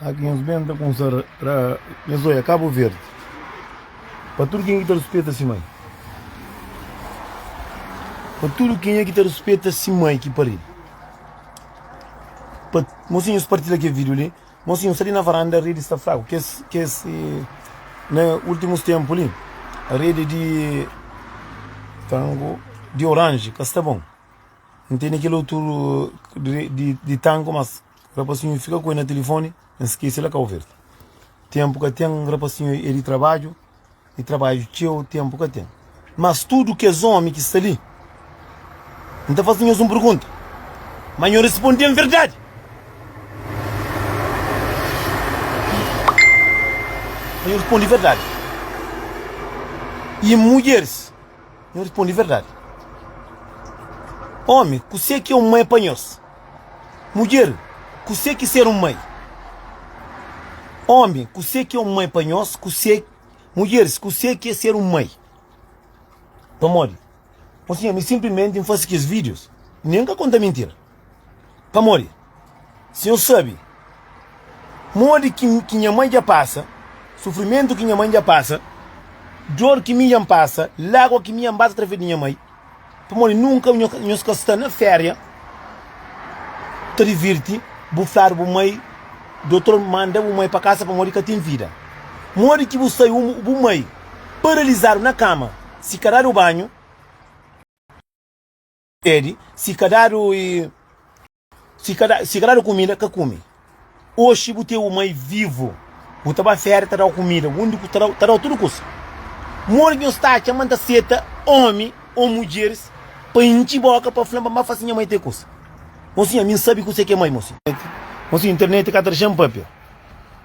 Aki nhos ben ta kumsa ra nhos oia Cabo Verde Pa tudu kenha ki ta ruspeta si mai Pa tudu kenha ki ta ruspeta si mai ki pari Pa mosinhu nhos partila kel video li Mosinhu sta li na varanda redi sta fraku kes kes na ultimus tempu li redi di tangu di orange ka sta bon N tene kel otu di tangu mas. Rapasinhu fika ku el na tilifoni N skese la Kau Verdi Tenpu ka ten Rapasinhu e di trabadju E trabadju txeu Tenpu ka ten Mas tudu kes omi ki sta li N ta fase nhos un pergunta Ma nho responde-m verdadi Ma nho responde verdadi E mudjeris Nho responde verdadi Omi kuse ki é un mai pa nhos? Mudjer, kusé ki ser un mai? Ómi, kusé ki é un mai pa nhos? Kusé, mudjeris, kusé ki é ser un mai? Pamodi, Ó Sinhor, mi sinplimenti N fase kes vídius, nen N ka konta mintira. Pamodi, Sinhor sabe modi ki ki nha mai dja pasa, sufrimentu ki nha mai dja pasa, dor ki mi dja N pasa, lágua ki mi dja N basa através di nha mai. Pamodi nunka nhos ka sta na féria ta divirti bu fladu bu mai dotor manda bu mai pa kasa pamodi ka ten vida modi ki bu sai umu bu mai paralizadu na kama si ka dadu banhu si ka dadu Si ka da, si ka dadu kumida, ka kume. Oxi bu ten un mai vivu, bu ta ba férias ta dau kumida, undi ku ta dau, ta dau tudu kusa. Modi ki nhos ta atxa ma N ta seta omi ô mudjeris pa intxi bóka pa fla-m ma N ba fase nha mai te kusa? Mosinhu, ami N sabe kuzê ki é mai, mosinhu. Mosinhu, internet ka ta dexa-m pâpia.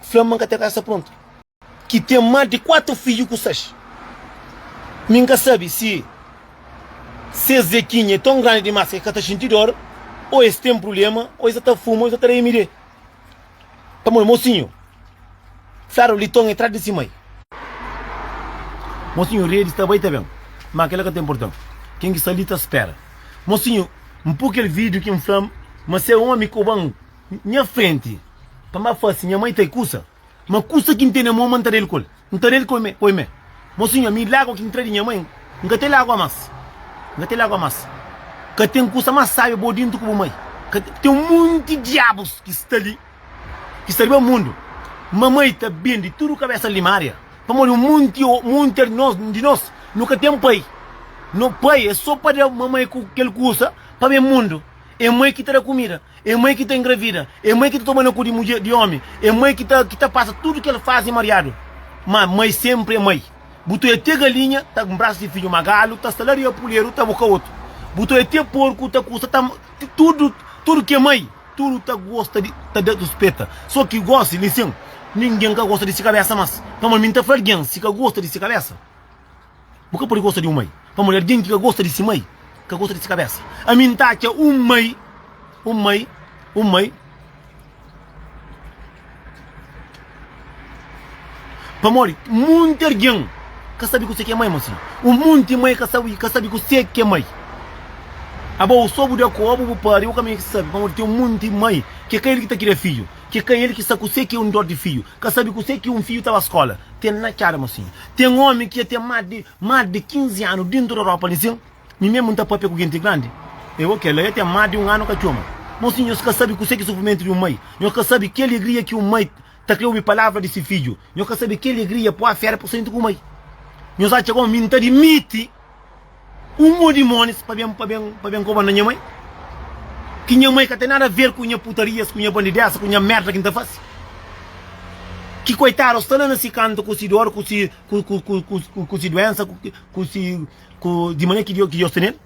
fla ma n ka ta kasa prontu, ki ten más di kuatu fidju ku ses. Mi n ka sabe si ses zekinha é ton grandi dimás ki es ka ta xinti dór, ô es ten prubléma, ô es sa ta fuma, ô es sa ta da MD. Pamodi mosinhu fladu li ton é tras di se mai. Mosinhu redi, ta bai i ta ben, má kel-la ka ta inporta-m, ken ki sta li ta spera. Mosinhu, N poi kel vídiu ki N fla-m ma se é ómi ki oba-m Nha frenti pa ma fasi nha mai ta e kusa ma kusa ki ntene mo ma nta dal kol nta dal kol me koi me mo sinhor mi lagua ki ntra di nha mai nka te lagua mas nka te lagua mas ka ten kusa mas sabia bo dintu ku bu mai ka ten munti diabus ki sta li ki sta riba mundu ma mai ta bendi tudu kabesa limaria pamodi un munti munti di nos di nos no ka ten pai no pai e so pa da ma mai ku kel kusa pa be mundu. é mai ki ta da kumida, é mai ki ta engravida, é mai ki ta toma na ku di mudjer, di omi, é mai ki ta ki ta pasa tudu kel fazi mariadu. Ma mai senpri é mai. Bu ta oia te galinha ta nbrasa si fidju, ma galu ta sta la riba puleru ta buka otu. Bu ta oia te porku ta kusa ta tudu tudu ki é mai tudu ta gosta di ta da ruspeta. So ki gosi lisen, ningen ka gosta di si kabesa mas. Pamodi mi n ta fla algen si ka gosta di si kabesa. Bu ka pode gosta di un mai, pamodi algen ki ka gosta di si mai, ka gosta di si kabésa. Ami N ta atxa un mai, un mai, un mai, pamodi monti algen ka sabe kuse ki é mai, masi un monti mai ka sabe, ka sabe kuse ki é mai. Abo, sô bu da kóbu bu pâpia ô kamié ki sabe, pamodi ten un monti mai ki ka el ki ta kria fidju, ki ka el ki sa kuse ki é un dór di fidju, ka sabe kuse ki un fidju ta ba skóla. Ten na txada ma sin. Ten omi ki dja ten más di más di 15 anu dentu di Europa li sin. Mi mésmu N ta pâpia ku genti grandi. E bo, kel-la dja ten más di un anu ka txoma. Mon sin, nhos ka sabe kuse ki sufrimentu di un mai. Nhos ka sabe ki alegria ki un mai ta krê obi palavra di se fidju. Nhos ka sabe ki alegria poi afera pa senti ku mai. Nhos atxa koma mi N ta dimiti. Un mo di monis pa ben pa ben pa ben koba na nha mai ki nha mai ka ten nada ver ku nha putarias ku nha bandidesa ku nha merda ki nta fasi ki koitada sta la na si kantu ku si dor ku si ku ku ku ku ku ku si duensa ku ki ku si ku di manera ki Deus tenel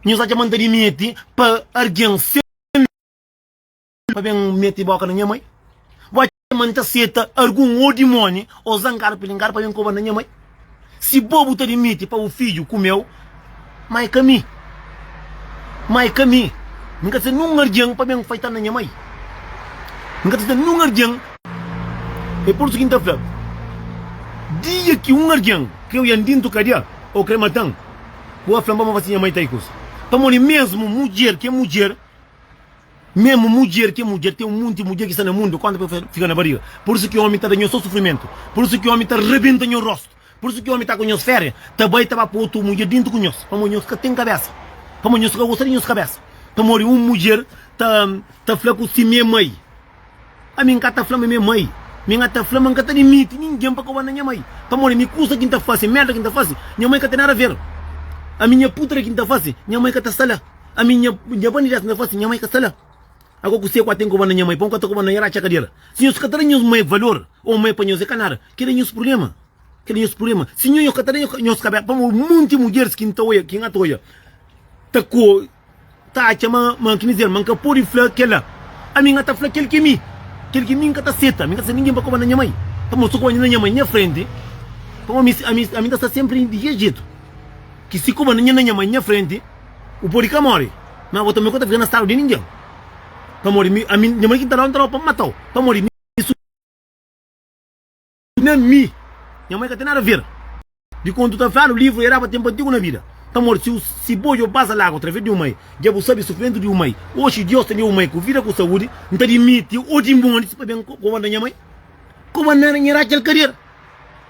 nhos atxa ma nta dimiti pa argen se. pa ben mete boka na nha mai bo atxa ma nta seta argun o dimoni o zangar pilingar pa ben koba na nha mai si bo bu ta dimiti pa bu fidju kumeu ma e ka mi ma e ka mi mi ka ta seta nun ardian pa ben faita na nha mai mi ka ta seta nun ardian e pur isu ki nta fla dia ki un ardian kreu yan dintu kadia o kre matan bo fla bo ma fasi nha mai ta i kusa pamodi mesmu mudjer ki e mudjer Memu mudjer ki é mudjer, ten un monti mudjer ki sta na mundu, konta pa el fika na bariga. Pur isu ki ómi ta da nhos sô sufrimentu, pur isu ki ómi ta rabenta nhos róstu, pur isu ki ómi ta ku nhos féria, ta bai ta ba pô otu mudjer déntu ku nhos, pamodi nhos ka ten kabésa, pamodi nhos ka gosta di nhos kabésa. Pamodi un mudjer ta ta fla ku si mé mai, Ami N ka ta fla ma mi é mai, mi N ta fla ma N ka ta dimiti ningen pa kobanda nha mai, pamodi mi kusa ki N ta fase, merda ki N ta fase, nha mai ka ten nada a ver. Ami, nha putria ki N ta fase, nha mai ka ta sta la. ami nha nha banda ideia na fase nha mãe ka sta la ago ku se ku a ten ku banda nha mãe pa un ka ta ku banda nha ra txa kadera si nhos ka ta da nhos mãe valor o mãe pa nhos e ka nada keda nhos purblema keda nhos purblema si nhonho ka ta da nhos kabes pamo un monti mudjeres kin ta oia kin a ta oia ta ku ta atxa ma ma kini dizer ma n ka podi fla kela ami nha ta fla kel ki mi kel ki mi n ka ta seta mi ka ta seta ningen pa ku banda nha mãe pamo si ku banda nha mãe nha frenti pamo ami ami ami ta sta sempri di ke jetu ki si ku banda nha mãe nha frenti. Bu pode ka móre, má bo tanbê ka ta fika na stadu di ningen. Pamodi mi, ami, nha maridu ki N ta da-u, N ta da-u pa N mata-u, pamodi mi su na mi. Nha mai ka ten nada ver di kontu ta fladu livru e daba tenpu antigu na bida. Pamodi si u, si bo dja bu pasa lagu através di un mai, dja bu sabe sufrimentu di un mai. Oxi, Diós ta dia un mai ku vida, ku saúdi. N ta dimiti oxi montis pa ben kobanda nha mai, kobanda nha Raquel Cadeira,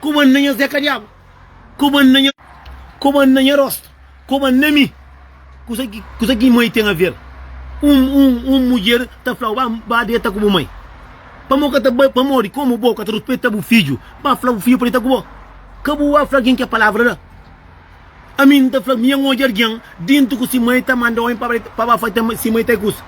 kobanda nha Zé Kadiaba. Koma na nha Koma na nha rostu Koma na mi Kusa ki Kusa ki mai ten aver Un un un mudjer ta fla-u Ba ba deta ku bu mai Pamodi bu ka ta bai Pamodi Komu bo ka ta ruspeta bu fidju Ba fla bu fidju pa deta ku bo Ka bu ba fla algen kel palavra la Ami N ta fla mi N odja algen Dintu ku si mai ta manda omi pa ba pa ba fla ta si mai ta é kusa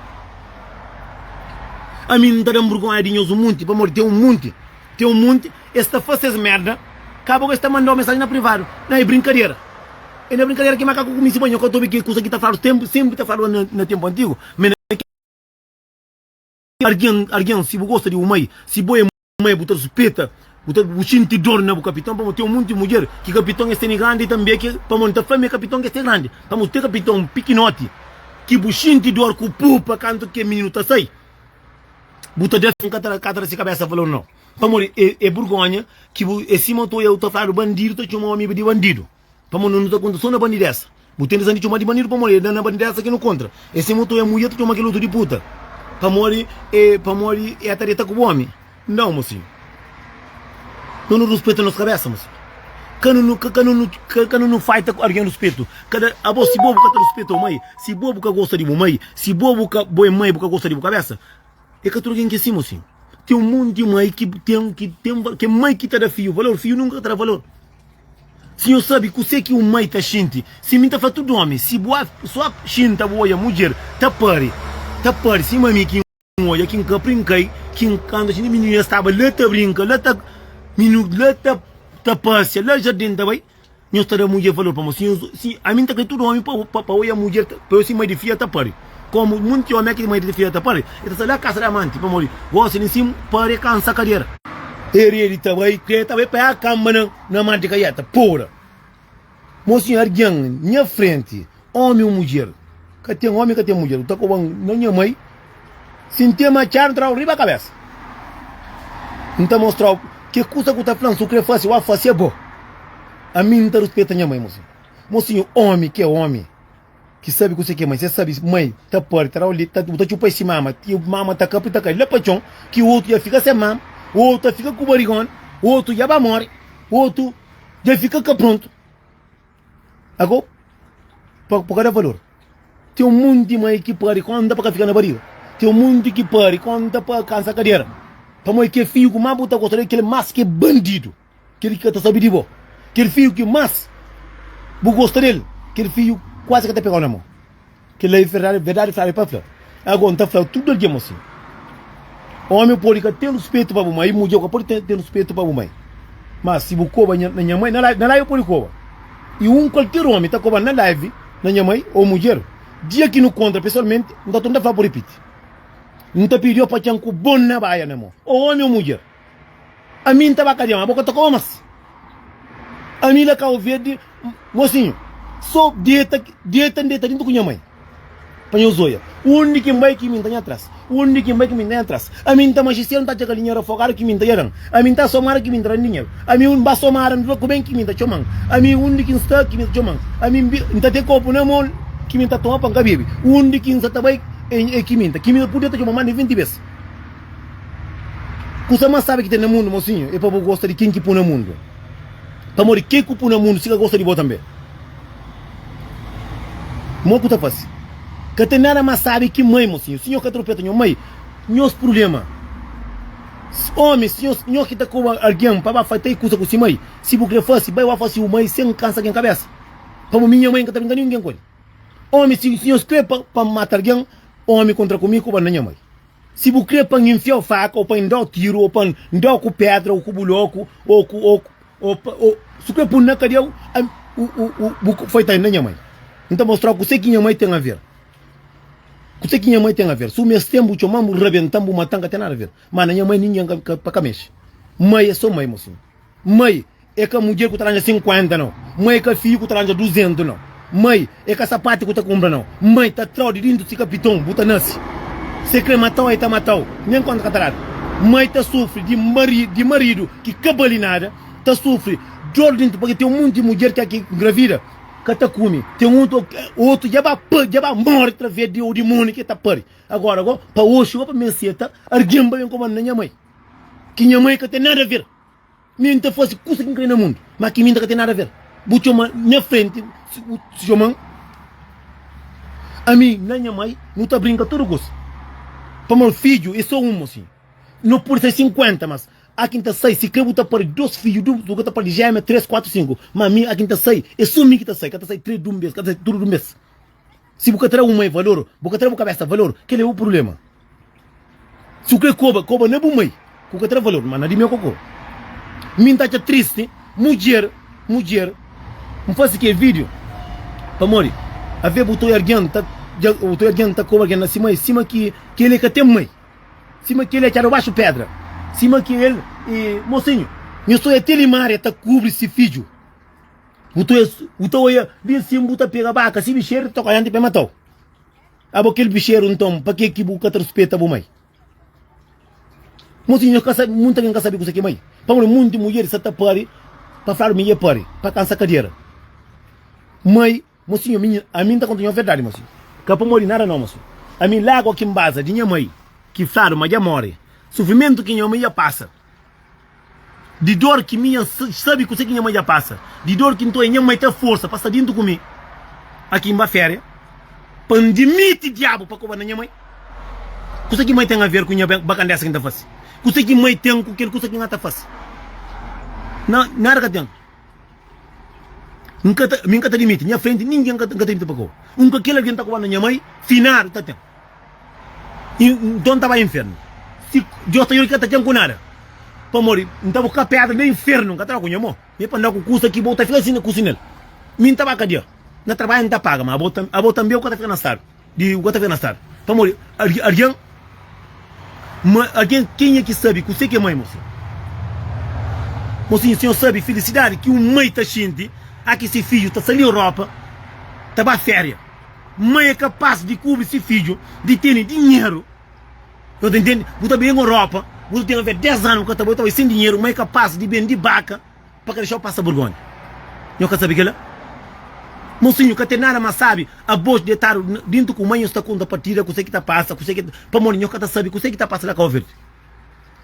Ami N ta da un burgonha di nhos un munti Pamodi ten un munti Tem um monte es ta faz ses merda kaba ku es ta mandau mensagem na privado na é brincadera é na brincadera ki makaku kumisi ba nho ka ta obi ki kusa ki ta faladu tempu sempre ta faladu na na tempu antigo me na ke argen argen si bu gosta di umai si bo é mai bu ta ruspeta bu ta bu sinti dor na bu kapiton pamo tem um monte mudjer ki kapiton es tene grandi tambe ke pamo nta fla me kapiton ke es te grandi pamo tem kapiton pikinoti ki bu sinti dor ku pupa kantu ke mininu ta sai. Bu ta def. N ka ta ka ta rase kabesa fla-u no. Pamodi e e burgonha ki bu e sima to eu ta fladu bandidu ta txoma omi di bandidu. Pamodi no nu ta konta so na bandidesa. Bu tende sa di txoma di bandidu pamodi e na na bandidesa ki nu kontra. E sima to e muia ta txoma kel otu di puta. Pamodi e pamodi e ta deta ku bu omi. Nau mosinhu, no nu ruspeta nos kabesa mosinhu, ka nu nu ka nu nu ka nu nu faita ku argen ruspetu, kada abo si bobu ka ta ruspeta bu mai, si bobu ka gosta di bu mai, si bobu ka bo e mai bu ka gosta di bu kabesa, e ka tudu argen ki é si mosinhu, ten un monti mai ki ten ki ten va ke mai ki ta da fiu valor fiu nunka ka ta da valor, si nho sabi kuse ki un mai ta xinti, si mi ta fla tudu omi si bu a so xinta bu oia mudjer ta pari ta pari sima mi ki. N odja ki N ka prinkai, ki N kanta txinti mininu nhas staba la ta brinka, la ta mininu la ta ta pasia, la jardin ta bai, nhos ta da mudjer valor pamo si nhos si ami N ta kai tudu omi pa pa pa oia mudjer ta pa si mai di fia ta pari komu monti omi aki mai di fia ta pari e ta sta la kasa da amanti pamo di gosi di nsimu pare kansa kadera. Eredi ta bai, kreta ta bai pa e akanba na na mar di kaieta, pora. Mo si argen nha frenti, omi o mudjer, ka ten omi ka ten mudjer, bu ta koba-m na nha mai, si N ten matxadu N tra-u riba kabesa, N ta mostra-u ke kusa ku ta fla-m, si u kre fase, wá fase abo, ami N ta ruspeta nha mai, mo si, mo si omi ke omi. Ki sabi kuse ki é mai. Se sabi mai ta parti ta da o leti, bu ta txupa es si mama. Mama ta kapri ta kai la pa txon ki otu dja fika sen mama, otu ta fika ku barigona, otu dja ba mori, otu dja fika ka prontu. Ago, pa bu ka da valor. Ten un monti mai ki pari konta pa ka fika na bariga. Ten un monti ki pari konta pa kansa kadera. Pamodi ki é fiju ku má bu ta gosta del, kel más ki é bandidu. Kel ki ka ta sabe di bo. Kel fidju ki más bu gosta di el, kel fidju kuazi ka ta pega-u na mô. Kel-la é verdadi, verdadi fladu é pa fla. Ago, N ta fla tudu algen ma si ómi pode ka ten ruspetu pa bu mai, mudjer ka pode ten ruspetu pa bu mai. Má, si bu koba na nha mai, na la na la el pode koba. I un kualker ómi ta koba-m na live na nha mai ô mudjer. Dia ki nu kontra pesoalmenti, N ta torna ta fla-bu ripiti. N ta pidi-u pa txan ku bon na baia na mô, ô ómi ô mudjer. Ami nta ba kadiama boka ta koma mas ami la kau verdi mosinhu so deta deta n deta dintu ku nha mai pa nhos oia undi ki n bai ki mi nta nha tras undi ki n bai ki mi nta nha tras ami nta majisel nta atxa kal dinheru afogadu ki mi nta yadan ami nta somada ki mi nta dan dinheru ami un ba somada n dura ku ben ki mi nta txoman ami undi ki n sta ki mi ta txoman ami n nta ten kopu na mon ki mi nta toma pa n ka bebe undi ki n sa ta bai e ki mi nta ki mi ta pudi ta txoman mas di vinti bes. Kusa más sábi ki ten na mundu, mosinhu, é pa bo gosta di ken ki pô na mundu. Pamodi ke ku pô na mundu, si ka gosta di bo tanbê. Mo ku ta fase? Ka ten nada más sábi ki mai, mosinhu. Si nho ka tropeta nho mai, nhos prubléma. Ómi, si nhos, nho ki ta koba algen pa ba fase três kusa ku si mai, si bu krê fase, bai wá fase un mai sen kansa ken kabésa. Pamodi mi, nha mai, N ka ta brinka ninguén ku el. Ómi, si nhos krê pa N mata algen, ómi kontra ku mi, koba N na nha mai. Si bu kre pa N infia-u faka, o pa N da-u tiru, o pa N da-u ku pedra, o ku bu loku, o ku, o ku, o pa, o, si bu kre pun na kadia, u, a, u, u, u, bu ka foi ta inda nha mai. N ta mostra-u kuse ki nha mai ten aver. Kuse ki nha mai ten aver. Si bu meste-m, bu txoma-m, bu rabenta-m, bu mata-m, ka ten nada aver. Má na nha mai, ningen ka, ka, pa ka mexe. Mai é sô mai, mosinhu. Mai e ka mudjer ku ta ranja sinkuenta nau. Mai e ka fiju ku ta ranja duzentu nau. Mai e ka sapati ku ta kunpra nau. Mai ta trau di dintu si kapiton bu ta nasi. Se kre matau e ta matau nen konta ka ta dadu. Mai ta sufri di maridu di maridu ki ka bali nada. Ta sufri dor dintu pake ten monti mudjer ke ki ngravida ka ta kumi. Ten otu otu ja ba pa ja ba mori traves di o dimoni ke ta pari. Agora go pa oxi go pa mim seta argin pa bem koba-m na nha mai. Ki nha mai ka ten nada ver. Mi N ta fase kusa ki N krê na mundu, má ki mi N ta ka ten nada aver. Bu txoma nha frenti Xoman, ami na nha mai nu ta brinka tudu kusa. Pamodi fidju é so un, mosinhu. No pode sai sinkuenta, mas a ki N ta sai, sikrê bu ta pâdi dos fidju, dublu, bu ka ta pâdi jémia, três, kuatu, sinku. Má mi, a ki N ta sai, é so mi ki ta sai, ka ta sai três di un bes, ka ta sai tudu di un bes. Si bu ka tra un mai valor, bu ka tra bu kabesa valor, kel-li é bu prubléma. Si bu krê koba, koba na bu mai ki bu ka tra valor, má na di mi é koko. Mi N ta atxa tristi mudjer, mudjer, N fase kel vídiu pamodi avê bu ta odja algen ta dja, bu ta odja algen ta koba algen na se mai sima ki kel-li ka ten mai, sima kel-li é atxadu baxu pédra, sima ki el é mosinhu. Nhos ta odja ti limária ta kubri se fidju. Bu ta oia, bu ta oia bin sin bu ta pega baka. Si bixeru ta toka yanti pa e matau. Abo kel bixeru nton pa ke ki bu ka ta ruspeta bu mai? Mocinho nhos ka sabi, munta bin ka sabi kusa ki mai. Pamodi munti mudjer sa ta pari pa fladu mi e pari pa kansa kadera. Mai, mocinho mi, ami nta konta nho verdadi mocinho. Ka pamodi nada no mocinho. Ami lagu ki nbaza di nha mai ki fladu ma dja mori. Sufrimentu ki nho mai dja pasa. Di dor ki mi nha sabe kuse ki nha mai dja pasa Di dor ki nton é nha mai ta forsa pa sta dintu ku mi Aki N ba féria pa N dimiti diabu pa koba na nha mai Kuse ki mai ten aver ku nha ben ba kandesa ki N ta fase Kuse ki mai ten ku kel kusa ki N ata fase Na nada ka ten. N ka ta, mi N ka ta dimiti, nha frenti ningen N ka ta dimiti pa kau, un ka kel algen ta kuba na nha mai finadu ta ten, i nton N ta bai infernu, si Dios ta juda ki ka ta ten ku nada, pamodi N ta buska pedra na infernu, N ka ta da ku nha mo, me pa N da ku kusa ki bo ta fika si na kusi nel, mi N ta ba kadia, na tarbaja N ta paga, ma abo tanbe, abo tanbe ku ka ta fika na stadu. Di bu ka ta fena stad pamodi argen ma argen kenha ki sabi kuse ki é mai mosin mosin sinhor sabi filisidadi ki un mai ta xinti a ki si fidju ta sali europa ta ba feria mai é kapas di kubri si fidju di teni dinheru no ta intendi bu ta ben europa bu ta ten avé 10 anu bu ka ta bai bu ta bai sen dinheru mai é kapas di bendi baka. pa ka dexau pasa burgonha nho ka sabi kela mosinho ka ten nada ma sabi abos detadu dintu ku mai nho sta konta partida kuse ki ta pasa kuse ki pamodi nho ka ta sabi kuse ki ta pasa la kau verde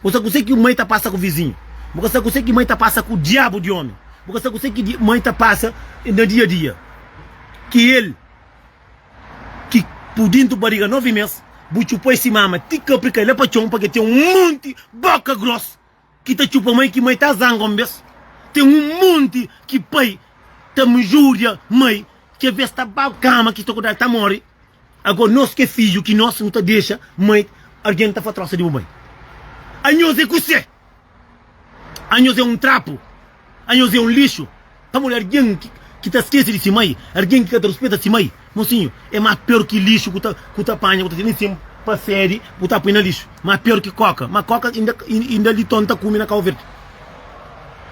bo sa kuse ki mai ta pasa ku vizinho bo ka sa kuse ki mai ta pasa ku diabu di omi bo ka sa kuse ki mai ta pasa na dia dia ki el ki pu dintu bariga novi mes bu txupoi si mama ti kapri kai la pa txon pake ten un monti boka gros. ki ta txupa mai ki mai ta zanga un bes ten un monti ki pai ta mjuria mai ki a bes ta bab kama ki sta kudal ta mori ago nos ke fidju ki nos nu ta dexa mai argen ta fa trosa di bu bai anhos e kuse anhos e un trapu. A nhos é un lixu pamodi algen ki ta skese di si mai, algen ki ka ta ruspeta si mai, mosinhu, é más piór ki lixu ku ta ku ta panha, ku ta tira insin pa sédi, bu ta poi na lixu. Más piór ki kóka, má kóka inda inda li ton ta kume na Kau Verdi.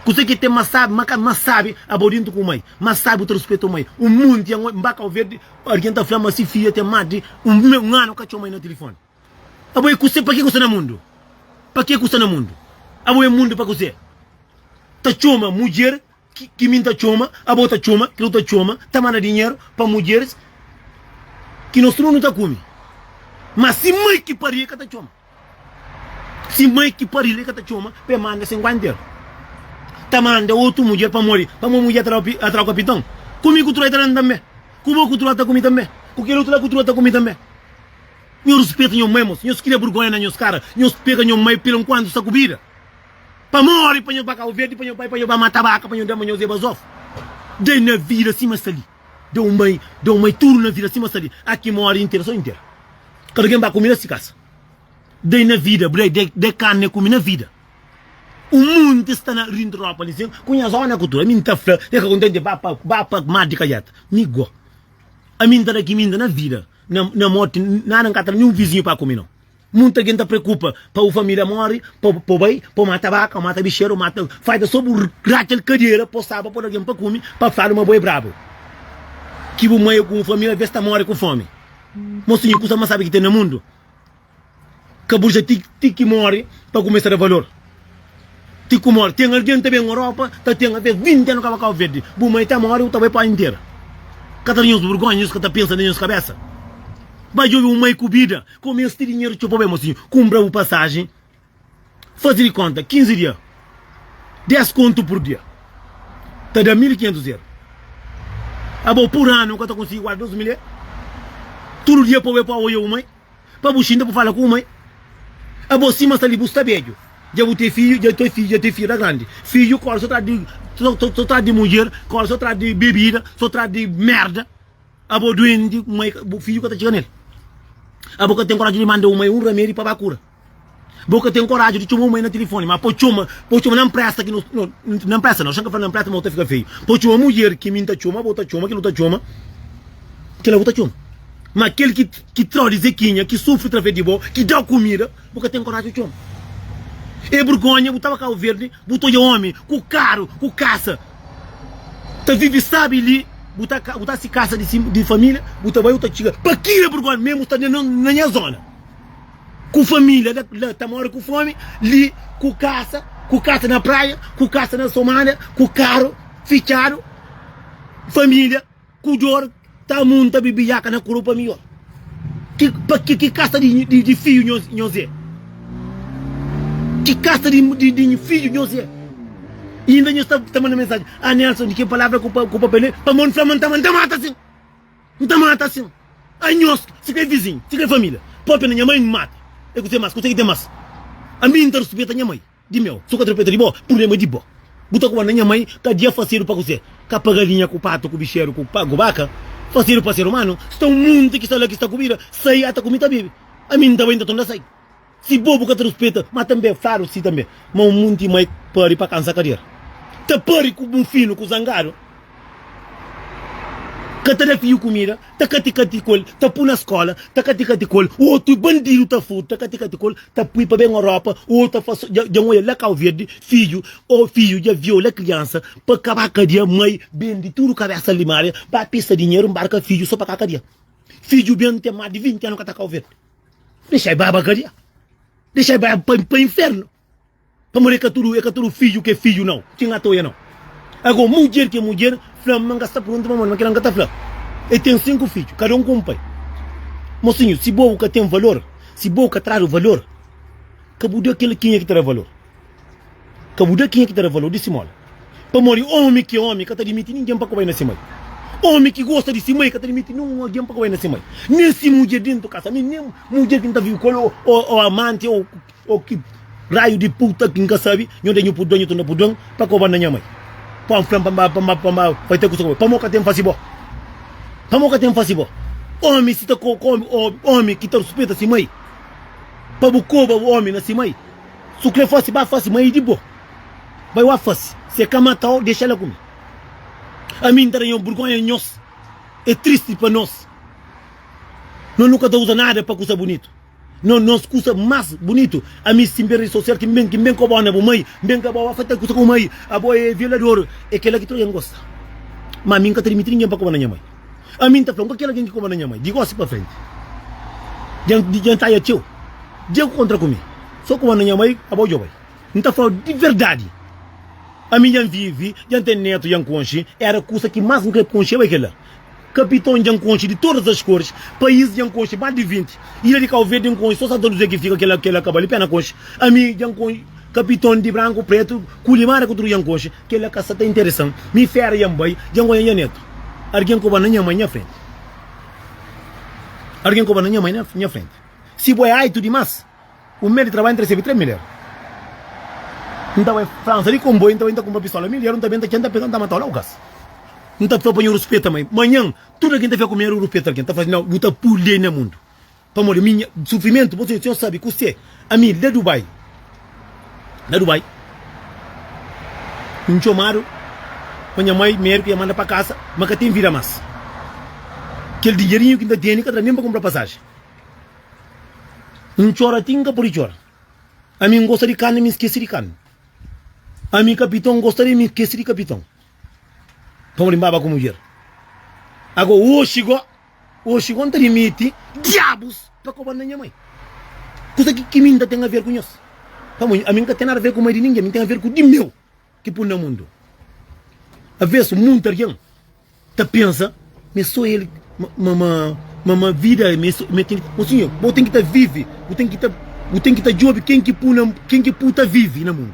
Kuzê ki ten más sábi, má ka más sábi a bo déntu ku mai, más sábi bu ta ruspeta un mai. Un monti anu, N ba Kau Verdi, algen ta fla-m ma si fidja ten más di un anu ka txoma-i na tilifóni. Abo é kuzê? Pakê ku sta na mundu? Pakê ku sta na mundu? Abo é mundu pa kuzê? Ta txoma mudjer ki mi N ta txoma, abo ta txoma, ki lo ta txoma, ta manda dinheru pa mudjeris ki nos tudu nu ta kume. Má si mai ki pari-l, el ka ta txoma. Si mai ki pari-l, el ka ta txoma pa el manda sen ku antel. Ta manda otu mudjer pamodi pamodi mudjer ta da-l atrazu kapitau? Ku mi ki otu la el ta da-m tanbê? Ku bo ki otu la el ta kume tanbê? Ku kel otu la ki otu la el ta kume tanbê? Nhos rispeta nhos mai mos. Nhos kria burgonha na nhos kara. Nhos pega nhos mai pil nkuantu sta ku bida. Pa mori pa nhos ba Kau Verdi, pa nhos bai pa nhos ba mata baka pa nhos dama nhos eba zof. Dai na vida sima sta li. Da un mai, da un mai tudu na vida sima sta li. Aki mori intera so intera. Kada algen ba kumi na si kasa. Dai na vida, bu dai dai dai karni e kumi na vida. Un munti sta na Rindropolis, ku nhas ona ku tudu. Mi nta fla, e ka kontenti ba pa ba pa mar di kajata. Mi go. Ami N ta da ki mi inda na vida, na morti nada N ka ta da ninhun vizinhu pa kome no. Munta gen ta preokupa pa bu familia mori pa bo bai pa bo mata baka o mata bixer o mata faida so bu ratxal kadera po saba po da gen pa kome pa fla ma bo e brabu ki bu mai o ku bu familia ves ta mori ku fome. Mosinhu kusa mas sabi ki ten na mundu. Ka bu dja ti ti ki móre pa kumesa da valor ti ku móre ten algen ta ben Europa ta ten até 20 anu ka ba Cabo-Verde bu mai ta móre bu ta bai pode intera ka ta da nhos burgonha nhos ka ta pensa na nhos kabesa ba djobe un mai ku bida kome es ti dinheru txeu pa bai mosinhu kunpra bu pasajen Fazi di konta, 15 dia, 10 kontu pur dia, ta da 1500 eur. Abo, pur anu bu ka ta konsigi guarda 2000 eur? Tudu dia pa bu bai pua oja bu mai, pa bu xinta, pa bu fala ku bu mai. Abo, sima sta li, bu sta beju, dja bu ten fiju, dja ten fiju, dja ten fiju ta grandi. Fiju korda so tras di, so tras di mudjer, korda so tras di bebida, so tras di merda. Abo duenti, mai, bu fiju ka ta txiga nel. Abo ka ten koraju di manda bu mai un ramedi pa ba kura. Bo ka ten koraji di txoma un mai na tilifoni, ma po txoma, po txoma na npresta ki no, no, na npresta na, oxen ka fla na npresta ma bo ta fika feio. Po txoma mudjer ki mi N ta txoma, bo ta txoma, kel bu ta txoma, kel-la bu ta txoma. Ma kel ki, ki tra-u di zekinha, ki sufri trafés di bo, ki da-u kumida, bo ka ten koraji di txoma. E burgonha, bu tava Kabu Verdi, bu ta odja omi ku karu, ku kasa, ta vivi sabi li, bu ta ka, bu ta si kasa di si, di familia, bu ta bai, bu ta txiga, pa kila burgonha, memu sta na nha zona. Ku família na la ta móre ku fómi li ku kasa ku kasa na praia ku kasa na somália ku karu fitxadu família ku dor ta munta bibiaka na kuru pa mi ol ki pa ki ki kasa di fiju nhos nhos é ki kasa di di fiju nhos é inda nhos ta ta manda mensajen a Nélson di ki palavra ku pa ku pa pa mon fla ma n ta ma n ta mata sin N ta mata asin a nhos si ka é vizinhu, si ka é família. Pâpia na nha mai N mata el kuzê más, kuzê ki ten más Ami N ta rispeta nha mai di meu Si bu ka ta rispeta di bo, prubléma é di bo Bu ta konda nha mai ka dia fasedu pa kuzê Ka pa galinha, ku patu, ku bixeru, ku ku baka Fasedu pa ser umanu Sta un monti ki sta la ki sta kubida Sai ata ku mi ta bebe Ami N ta bai N ta tonda sai. Si pobu ka ta ruspeta, ma tanbe fladu si tanbe, ma un munti mai pari pa kansa kader. Ta pari ku bu finu ku zangadu, ka ta da fiu kumida, ta kati-kati ku el, ta pui na skola, ta kati-kati ku el, otu bandidu ta furta, ta kati-kati ku el, ta pui pa ben Europa, o ta fas, dja N oja la Kau Verdi, fidju o fidju dja viola kriansa pa kaba kadia, mai bendi tudu kabesa limaria, ba pista dinheru, nbarka fidju so pa ka kadia. Fidju ben ten mas di 20 anu ka ta Kau Verdi. Dexai bai ba kadia. Dexai bai pa, pa infernu. Pamodi é ka tudu, é ka tudu fidju ki é fidju nau, ki N atoia nau. Ago, mudjer ki é mudjer, fla-m ma N ka sta pruntu pa modi, ma kila N ka ta fla-l. El ten sinku fidju, kada un ku un pai. Mosinhu, si bo bu ka ten valor, si bo bu ka tradu valor, ka bu da kel kenha ki ta da valor. Ka bu da kenha ki ta da valor di si móda. Pamodi ómi ki é ómi ka ta dimiti ningen pa kawai na se mai. Ómi ki gosta di si mai ka ta dimiti nen un algen pa kawai na se mai, nen si mudjer déntu kasamenti, nen mudjer ki N ta vive ku el ô amanti ô ô ki raiu di puta ki N ka sabe. Nho ta nhu pudra, nhu ta na pudra-m pa kau ba na nha mai, pa N fla-m pa N ba, pa N ba, pa N ba bai ta kusa ku el. Pamodi ka ten fasiba? Pamodi ka ten fasiba? Ómi si ta kau ku ómi, ô ómi ki ta ruspeta si mai, pa bu koba ómi na si mai. Su kre fasi ba fasi ma i di bo bai wa fasi si e ka matau dexa la ku mi ami nta da nho burgonha nhos e tristi pa nos no nu ka ta uza nada pa kusa bunitu no nos kusa mas bunitu ami simper i sosial ki nben ki nben ko bo na bo mai nben ka bo wa fatal kusa ku mai abo e violador e kela ki troja ngosta ma ami nka ta dimiti ningen pa ko bo na nha mai. Ami N ta fla-u, N ka kere algen ki komoda nha mai. Di gósi pa frenti, dja N ta atxa txeu dja ku kontra ku mi. Sô komoda nha mai, aba odja-u bai. N ta fla-u di verdadi, ami dja N vive, dja N ten nétu, dja N konxe. Éra kusa ki más N krê konxe bai kel-la. Kapiton dja N konxe di todas as koris, país dja N konxe más di vinti, ilha di Kauverdi N konxe sô Santa Luzia ki fika kel-la ka bai li pena konxe. Ami dja N konxe kapiton di branku, prétu ku limara ku tudu dja N konxe. Kela ka sa ta interesam. Mi fera ya N bai, dja N oia nha netu. Argen koba na nha mai nha frenti. Argen koba na nha mai nha frenti. Si bo e aitu dimas, un mes di trabadju N ta resebe tres mil eru. N ta bai Fransa di konboiu, N ta bai N ta kunpra pistola mil eru, N ta benta txeu, N ta pega, N ta mata ola ugas. N ta fla pa nha ruspeta mai. Manhan, tudu algen ta fia ku mi, N ta ruspeta algen ta fla, Nau, bu ta pulde na mundu. Pamodi ami nha sufrimentu bo Senhor sabi ku se ami la Dubai la Dubai N txomadu pa nha mai medu ki nha manda pa kasa ma ka ten vida mas kel dinherinhu ki N ta tene ka ta da nen pa kunpra pasaji N txora ti N ka pudi txora ami N gosta di karni mi skese di karni ami kapiton N gosta di mi skese di kapiton pamodi N baba ku mudjer ago oxi go. Oxi kon ta dimiti diabus pa koba na nha mai. Kusa ki ki minta ten aver ku nhos? Pamo, ami nka ten nada aver ku mai di ningen, mi ten aver ku di meu ki pun na mundu. Avesu muntu argen ta pensa ma e so el ma ma vida mi mi ten ki. O sinhor, bo ten ki ta vivi, bu ten ki ta bu ten ki ta jubi ken ki pu na ken ki pu ta vivi na mundu.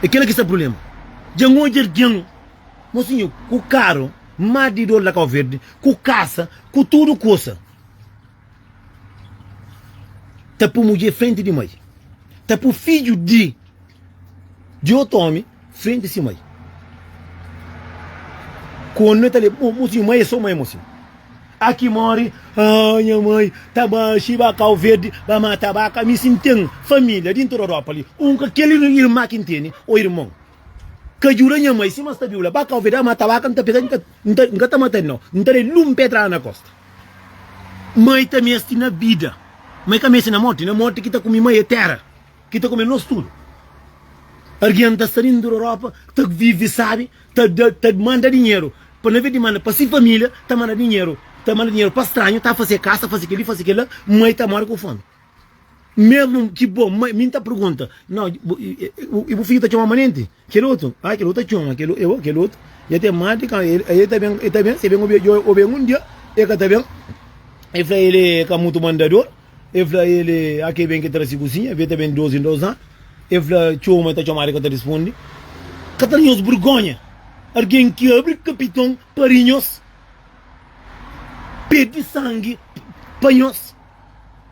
E kila ki sta prulema. Dja N odja argen, mo sinhor, ku karu. Mar di dor la kau verdi ku kasa ku tudu kusa ta pu mudjé frenti di mai ta pu fidju di di otu omi frenti si mai kondi na ta le bo mo si mai e so mai mo si aki mori haa nha mai ta ba xi ba kau verdi ba mata baka mi si n'ten familia di n'toda europa li un ka kel irma ki n'teni o irmon Ka djuda nha mai sima sta viu la ba ka oveja mata vaka nta pega nka ta mata el nau nta da el lum pedrada na kosta mai ta mesti na bida mai ka mesti na morti na morti ki ta kumi mai e tera ki ta kumi nos tudu argen nta sta dintu da ropa ta vivi sabi ta da ta manda dinheru pa na vedi manda pa si familia ta manda dinheru ta manda dinheru pa stranhu ta fasi e kasa fasi kili fasi kila mai ta mori ku fomi. Mesmu ki bo mai, mi N ta pergunta, Nau, i bu fidju ta txoma Manenti? Kel otu, A, kel otu ta txoma, kel otu dja ten más di kantu. El ta ben, el ta ben, si el ben obi dja obi un dia, el ka ta ben. El fla el é ka mutu mandador, el fla el é a ke ben ki tra si kuzinha, ve ta ben di dos en dos anu. El fla txoma, el ta txomadu, el ka ta responde. Ka ta da nhos bergonha algen ki abri kapiton pa ri nhos, perde sangi pa nhos?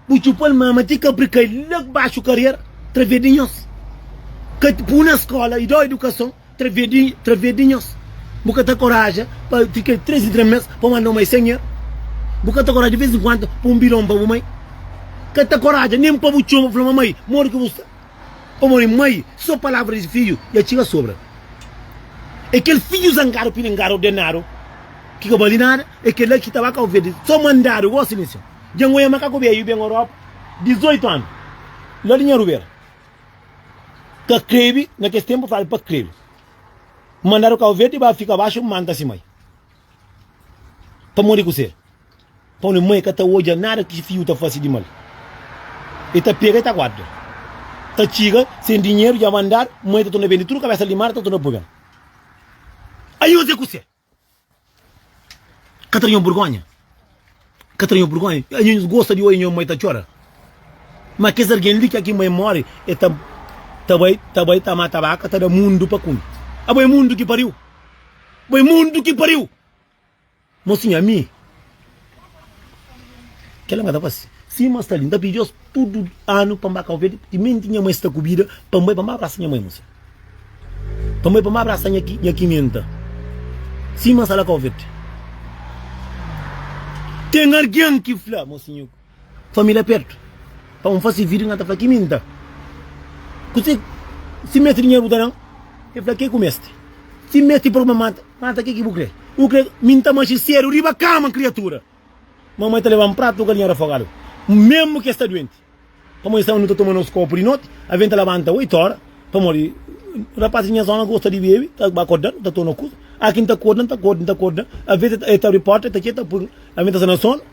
Bu txupa-l mama ti ka bri kai la ku baxu kariera través di nhos Ka pui na skola y da-u idukason través di través di nhos Bu ka ta koraja pa fika tres di dra-mes pa un aldomai sen er Bu ka ta koraja di vez en kuandu poi un bidon pa bu mai Ka ta koraja nen pa bu txoma fla ma mai modi ki bu sta O modi mai so palavra di fidju dja txiga sobra E kel fidju zangadu pidi ngadu ordenadu ki ka bali nada É kel-la ki ta ba ka obedese so mandadu. Gosi mi sen. Dja N oia ma ka ku beiu ben Europa 18 anu la di nha rubera. Ka krebe, na kes tenpu fala pa krebe. N mandadu ka obedese ba fika baxu manta si mai. Pamodi kusé? Pa un mai ka ta odja nada ki fiu ta fase di mal. E ta pega e ta guarda. Ta txiga sen dinheru dja mandadu, mai ta torna bende tudu kabesa limadu ta torna pui ben. Años é kusé. Ka ta nho burgonha? Ka ta nho burgonha? Anho nhos gosta di oie nho mai ta txora? Ma kes argen li kia ki mai more e ta ta bai ta bai ta mata baka ta da mundu pa kume. Abo e mundu ki pariu? Abo e mundu ki pariu? Mosinha mi. Kela nga ta fase sima sta li, nta pidi os tudu anu pa mba kau verde, timenti nha mai sta kubida pa mbai pa mba abrasa nha mai muse, pa mbai pa mba abrasa nha nha kimenta sima sta la kau verde. Ten argen ki fla, mo sinhu. Família pertu pa un fase vídiu, nan ta fla ki mi nta kuse. Si meste dinheru bu ta dan, el fla ke ku meste. Si meste promba mata, mata ke ki bu kre. Bu kre mi nta manxe sedu riba kama kriatura. Mamai ta lebam pratu galinha rafogadu mesmu ke sta duenti. Pamodi sama nu ta toma nos kopu di noti, avem ta labanta oitu ora pamodi rapaz di nha zona gosta di bebi ta ba koda nu ta torna kuza. Aki nta koda nta koda nta koda, aves el ta abri porta el ta txeta pui avem ta sa na sonu.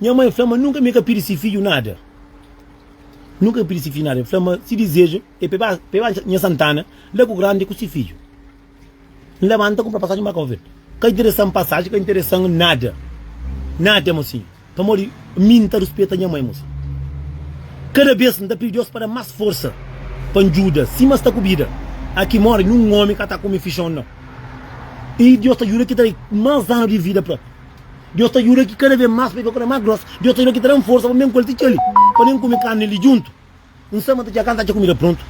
Nha mai fla ma nunka mi ka pidi si fidju nada, nunka ka pidi si fidju nada. El fla ma si dizeju e pa e ba pa e ba nha Santana la ku grandi ku si fidju. N labanta kunpra pasajen ba Kau-Verdi. Ka interesan pasajen, ka interesan nada, nada mosi, pamodi mi N ta ruspeta nha mai mosi. Kada bes N ta pidi Deus pa da-m mas forsa pa N djuda sima sta ku bida aki modi nin un omi ka ta kume fixon nau. I Deus ta djuda ki ta da-i mas anu di vida pa. Deus ta djuda ki kada vez más pa i prokura más grós. Deus ta djuda ki ta da-m forsa pa N ben ku el ti txeu-li, pa nen kume karni di djuntu. N sta ma ta txeu kanta atxa kumida prontu.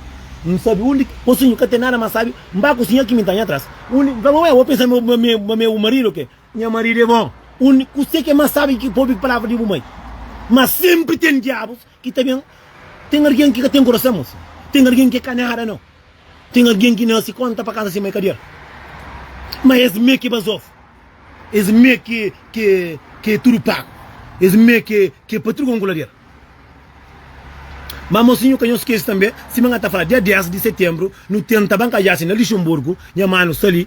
N sabe undi ki kosinhu ka ten nada más sábi, N ba kusinha ki mi ta nha atrás. Undi, N fla ma, ué, bo pensa ma mi é bu maridu o ke? Nha maridu é bon. Undi, Kuse ki é más sábi ki ki pobi palavra di bu mai? Má senpri ten diabus Ki ta ben Ten argen ki ka ten kurason mosi Ten argen ki ka nada no Ten argen ki nase konta pa kasa si mai ka der Ma es me ki bazof Es me ki ki ki tudu pagu Es me ki ki pa trugon ku lader Ma mosinhu ka nho skese tanbe Sima nha ta fala dia 10 di setembru Nu tenta ban ka jase na Lixunburgu Nha manu sta li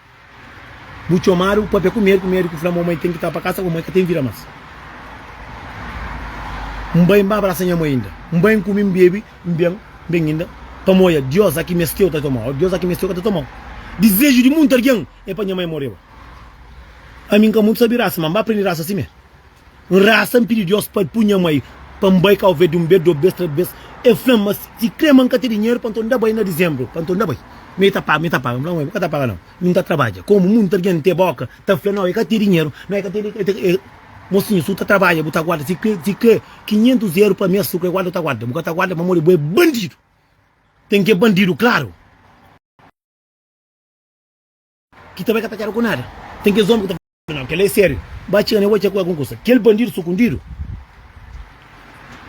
Bu txomadu pa pé ku médiku, médiku fla ma bu mai ten ki ta pa kasa, bu mai ka ten vida más. N bai, N ba brasa nha mai inda, N bai, N kumi, N bebi, N ben, N ben inda pamodi Diós a ki mesteu ta toma-u, Diós a ki mesteu ka ta toma-u. Dizeju di munti algen é pa nha mai moreba. Ami N ka mutu sabi rasa, má N ba prende rasa simé. N rasa, N pidi Deus pa el pui nha mai pa N bai Cabo Verde un bes, dos bes, tres bes. El fla-m ma si kre ma N ka ten dinheru pa N ta unda bai na Dizembru, pa N ta unda bai. Ma el ta paga, ma el ta paga. N fla, N ka ta paga nau, mi N ta trabadja. Komu munti algen N te boka ta fla nau el ka ten dinheru, nau el ka ten dinheru. Mosinhu, si bu ta trabadja bu ta guarda, si kre, si kre kinhentus eru pa mes, si bu kre guarda bu ta guarda, bu ka ta guarda pamodi bu é bandidu, ten ki é bandidu klaru. Ki ta bai ka ta keda ku nada. Tem kes homem ki ta fala não, kel la é sério. Ba txega ne bo txê ku el kon kusa. Kel bandido sukundido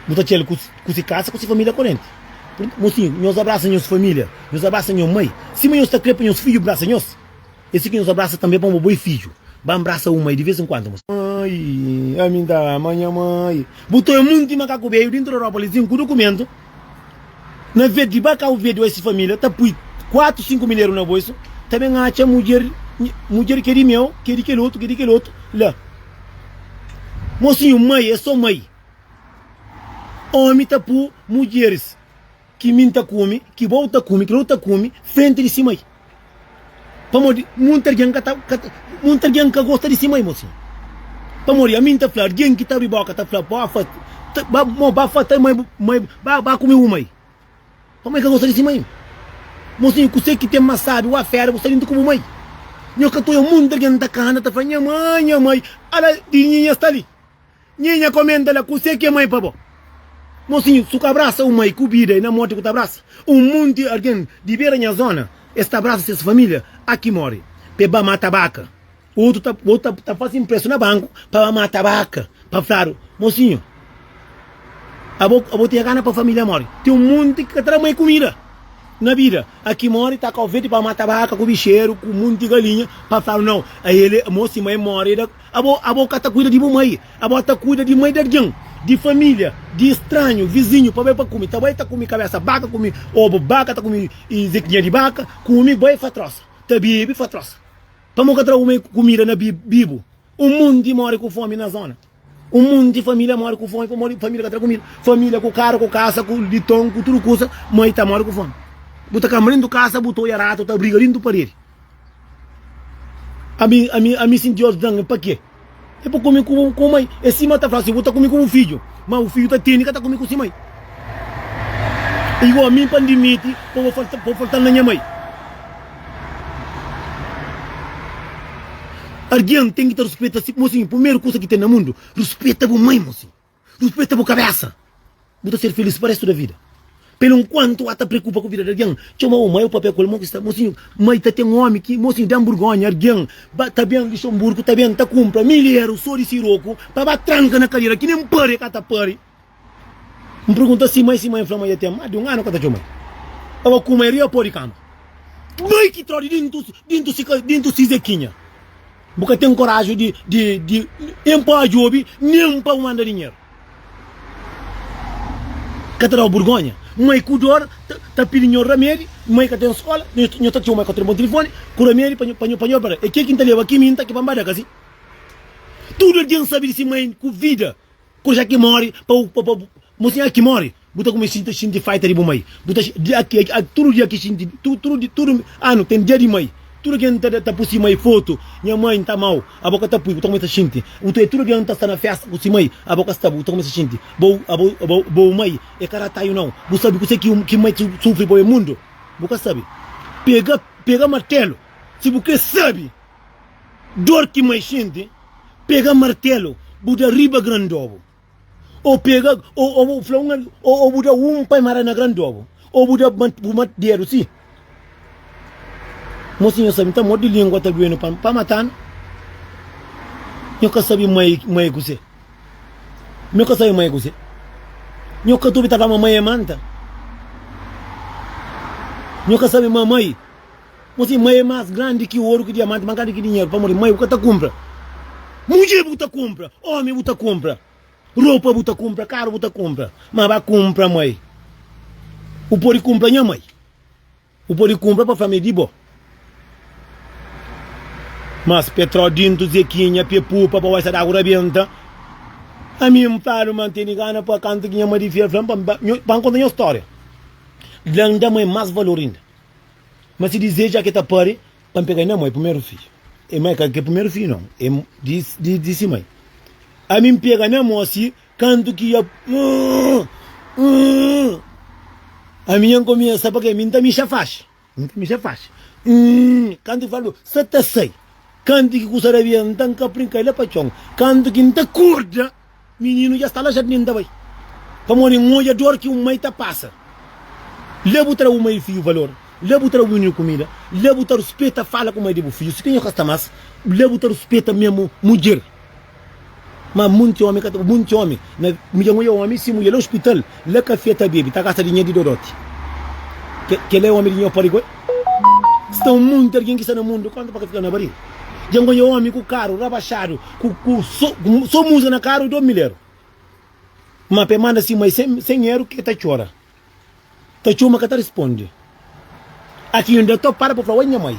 bu ta txê-l ku si kasa, ku si família korenti. Mosinhu, nhos abrasa nhos família, nhos abrasa nho mai. Sima nhos ta krê pa nhos fidju brasa nhos, é assim ki nhos abrasa tanbê pamo bo é fidju. Ba mbrasa bu mai di vez enkuantu, mosinhu. Mai, ami n ta ama nha mai. Bu ta é munti makaku beiu dintu Aerópolis, sim, ku dukumentu. Na vez di ba kau veduâ si família ta pui kuatu, sinku mineru na boisu, ta ben atxa mudjer, mudjer ki é di meu, ki é di kel otu, ki é di kel otu la. Mosinhu, mai é sô mai. Ómi ta pui mudjeris ki mi N ta kume, ki bo bu ta kume, ki el ta kume, frenti di si mai. Pamodi monti algen ka ta, ka ta, monti algen ka gosta di si mai, mosi. Pamodi ami N ta fla, algen ki ta abri boka ta fla, Ba fa, ta, ba, mo, ba fa ta mai bu, mai bu, ba, ba kume bu mai. Pamodi ka gosta di si mai. Mosinhu, kuse ki ten mas sabi, wa fera, bu sta dintu ku bu mai. Nho ka ta oja monti algen ta kana ta fla, nha mai, nha mai, ala di nhinha sta li. Nhe nha komenta la kuse ki é mai pa bo mosinhu su ka abrasa un mai ku bida e na morti ku ta abrasa un munti argen di bera nha zona es ta abrasa ses familia a ki mori pe ba mata baka otu ta otu ta fasi mprestu na banku pa ba mata baka pa fladu mosinhu abo abo tinha gana pa familia mori ten un munti ki ka ta da mai kumida na bida a ki mori ta ka ofeti pa mata baka ku bixeru ku munti galinha pa fladu nau a ele mosi mai mori da. Abo, abo ka ta kuida di bu mai, abo ta kuida di mai di algin, di familia, di stranhu, vizinhu, pa bai pa kumi, ta bai ta kumi kabesa baka, kumi obu baka, ta kumi zekinha di baka, kumi, bai fa trosa, ta bebi fa trosa, pamo ka trabu mai kumida na bi, bibu, un munti mori ku fomi na zona, un munti familia mori ku fomi pamodi familia ka tra kumida, familia ku karu, ku kasa, ku liton, ku tudu kusa, mai ta mori ku fomi, bu ta kama dintu kasa, bu ta oja ratu ta briga dintu paredi. Ami, ami, ami sinti os dan, pa ke? E pa kome ku ku mai. E sima ta fla si, bu ta kome ku bu fidju, ma bu fidju ta tene ka ta kome ku si mai. Igua mi pa N dimiti pa bo falta, pa bo faltal na nha mai. Argen ten ki ta ruspeta si, mosinhu, pumeru kusa ki ten na mundu, ruspeta bu mai, mosinhu. Ruspeta bu kabésa. Bu ta ser filís pa réstu da vida. Pelu nkuantu H ta preokupa ku vida di algen. Txeu mau mai, o papia ku el mon ki sta. Mosinhu, mai ta ten ómi ki. Mosinhu, da-m burgónha. Argen ba ta ben di Xomburgu, ta ben ta kunpra mil iéru so di siroku pa ba tranka na kadera ki nen pâria ka ta pâria. N pergunta si mai, si mai N fla ma dja ten más di un anu ka ta txeu mai. N ba kuma el riba pô di kama. Mai ki tródi dintu, dintu si ka, dintu si Zekinha. Bu ka ten koraji di nen pa odjobi nen pa bu manda dinheru. Ka ta da-u burgonha? Mai ku dor ta pidi nho ramedi, mai ka ten skola, nho ta txoma katri montilifoni ku ramedi pa nho padi operar. E ke ki N ta leba ki mi N ta ki pa N ba da kasi? Tudu algen sabe di si mai ku vida Ku ja ki mori pa u pa bu mo sin aki mori bu ta kume sinta sinti faita di bu mai bu ta di aki aki tudu dia ki sinti tudu tudu di tudu anu ten dia di mai tudu ki N ta ta pui si mai fotu nha mai N ta amau abo ka ta pui bu ta kume ta sinti u ta tudu dia N ta sta na festa ku si mai abo ka sta bu ta kume ta sinti bo abo abo bo mai e ka rataiu nau bu sabi kuse ki ki mai ta sufri pa e mundu bu ka sabi pega pega martelu si bu kre sabi. Dor ki mai xinti, pega martelu bu da riba gran dobu, o pega o bu fla un ami, o bu da un pa e mara na gran dobu, o bu da bu mati dedu si. Mosi nho sabi, nta modi lingua ta duenu pa pa matanu? Nho ka sabi mai mai kuse, nho ka sabi mai kuse, nho ka ta obi ta fla ma mai e manta, nho ka sabi ma mai. Bo si mai é más grandi ki oru, ki diamanti, más grandi ki dinheru, pamodi mai bu ka ta kunpra. Mudjer bu ta kunpra, ómi bu ta kunpra, ropa bu ta kunpra, karu bu ta kunpra. Má ba kunpra mai. Bu pode kunpra nha mai. Bu pode kunpra pa fla-m é di bo. Mas Petró dintu, Zekinha, pé pupa, pa waisa d'agu rabenta. Ami N fla-l ma N tene gana pa kanta ki nha madifiel fla-m pa N konta nha stória. Dla-m da mai más valor inda. Ma si dizeju a ke ta pari pa N pega nha moi primeru fidju, e ma e ka ke primeru fidju non, e di di si mai, Ami N pega nha moi si kantu ki ya Ami nha N kumesa pa ke mi N ta mixa faxi, N ta mixa faxi kantu ki fala sa ta sai, kantu ki kusa rabia N ta nkapri N kai la pa txon, kantu ki N ta korda. Mininu dja sta la jardin ta bai pamodi N odja dor ki un mai ta pasa Lé bu tra bu mai fiju valor Lé bu tra bu mininu kumida Lé bu ta ruspeta fala ku mai di bu fiju Si penha ka sta más Lé bu ta ruspeta memu mudjer Má munti omi ka ta Munti omi na midja N odja omi si mudjer la ospital. La kafé ta bebe, ta gasta dinher di dodote. Kela é omi di nho pode goi. Sta muita argen ki sta na mundu konta pa ka fika na baril. Dja N konxe omi ku karu rabaxadu ku so musika na karu dos mil eru. Ma pa e manda si mai sen eru ke ta txora. Ta txoma ka ta responde. Aki N da topadu pa fla, Oi nha mai,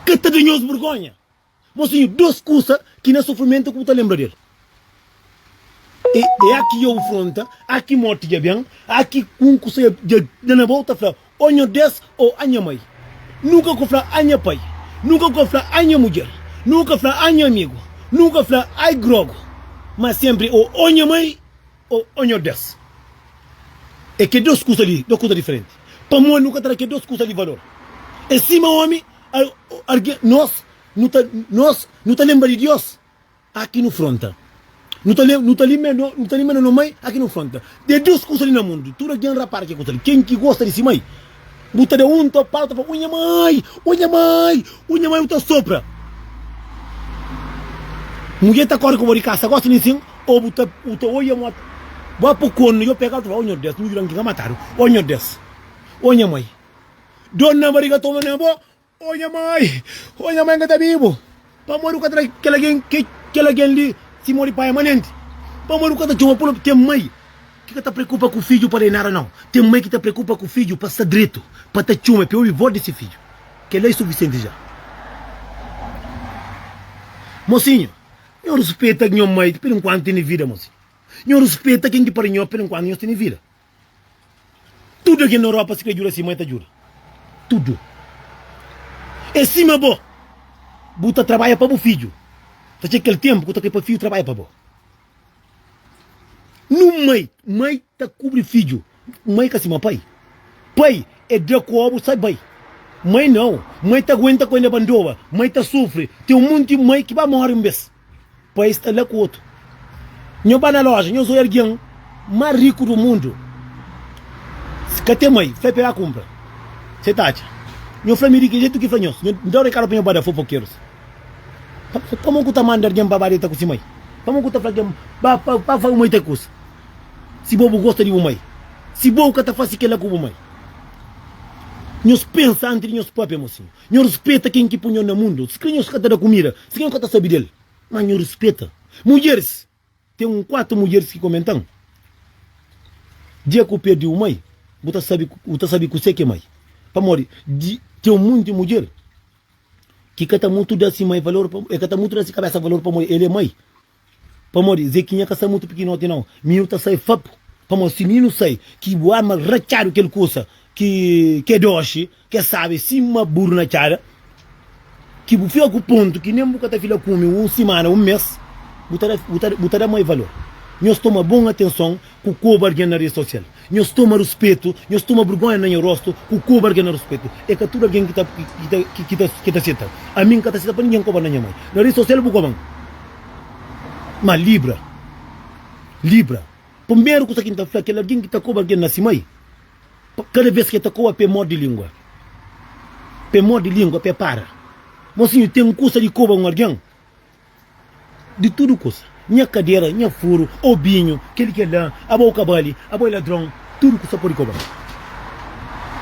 ka ta da nhos burgonha. Mosinhu, dos kusa ki na sufrimentu ku bu ta lenbra del. E e aki ya bu fronta, aki morti dja ben, aki ku un kusa ya dja da na bau ta fla o nho des o a nha mai. Nunka ku fla a nha pai, nunka ku fla a nha mudjer, nunka fla a nha amigu, nunka fla ai grogu, ma sempri o o nha mai O o nho Deus, e ke dos kusa li, dos kusa diferenti. Pamodi nu ka ta da ke dos kusa li valor. E sima omi, a o argen, nos nu ta, nos nu ta lenbra di Dios a ki nu fronta. Nu ta le, nu ta limbe no, nu ta limbe no no mai a ki nu fronta. De dos kusa li na mundu, tudu argen rapara ke kusa li, ken ki gosta di si mai, Bu ta da un to pau ta fla o nha mai o nha mai o nha mai bu ta sopra mudjer ta kori ku bo di kasa gosta di sin o bu ta bu ta oia mo bo apu kon yo pegal ta fla o nho des nhu juran ki ka matadu o nho des o nha mai dor na bariga toma na bo. Ó nha mai! Ó nha mai N ka ta bibu Pamodi bu ka ta da kel algen Kel algen li si modi pai amanenti Pamodi bu ka ta txoma pula bu Ten mai ki ka ta preokupa ku fidju pa da-i nada nau Ten mai ki ta preokupa ku fidju pa sta dretu Pa ta txoma i pa obi vós di se fidju Kel-la i sufisienti dja Mosinhu, nho ruspeta nha mai Perenkuantu tene vida mosinhu Nho ruspeta ken ki pari nho Perenkuantu nhos tene vida. Tudu algen na Europa si krê djuda si mai ta djuda. Tudu. É sima bo. Bu ta trabadja pa bu fidju. Ta txega kel tenpu ki bu ta krê pa fidju trabadja pa bo. Nun mai, mai ta kubri fidju. Mai ka sima pai. Pai é da kobu sai bai. Mai nau. Mai ta aguenta ku endebandoba. Mai ta sufri. Ten un monti mai ki ba móre un bes. Pa es ta la ku otu. Nho ba na loja, nho zoi algin ma riku du mundu. Si ka ten mai, fla-i pega kunpra. Se ta atxa. Nho fla mi di ki jetu ki fla nhos. Nho da rekadu pa nho ba da fofokerus. Pamodi ku ta manda algin ba ba deta ku si mai? Pamodi ku ta fla algin ba pa ba fla bu mai ta kusa? Si bo bu gosta di bu mai, si bo ka ta fasi kila ku bu mai? Nhos pensa antis di nhos papia, mosinhu. Nho rispeta ken ki pô nho na mundu. Sikrê nhos ka ta da kumida, sikrê nhos ka ta sabe del, má nho rispeta. Mudjeris, Ten un kuatu mudjeris ki komenta-m, Dia ki bu perde un mai, bu ta sabe, bu ta sabe kusé ki é mai. Pamodi di ten monti mudjer ki ka ta mutu da se mai valor, el ka ta mutu da se kabésa valor pamodi el é mai. Pamodi Zekinha ka sta mutu pikinoti nau, mi nu ta sai fapu, pamodi si mi nu sai, ki bu arma ratxadu kel kusa ki ke doxi, ke sabi sima buru na txada, ki bu fika ku pontu ki nen bu ka ta fila kumi un simana, un mes, bu ta da mai valor. Nhos toma bon atenson. Ku ku oba algen na rede sosial nhos toma ruspetu, nhos toma burgonha na nha rostu ku ku oba algen na ruspetu e ka tudu algen ki ta seta ami nka ta seta pa ningin nka oba na nha mai na rede sosial bu koban ma libra libra primeru kusa ki nta fla kel algen ki ta koba algen na si mai kada ves ke ta koba pe morde lingua pe morde lingua pe para mosi nhu ten kusa di koba un algen. Di tudu kusa, nha kadera, nha furu, obinhu, kel-li, kel-la, abo u ka bali, abo é ladron, tudu kusa pode koba-m.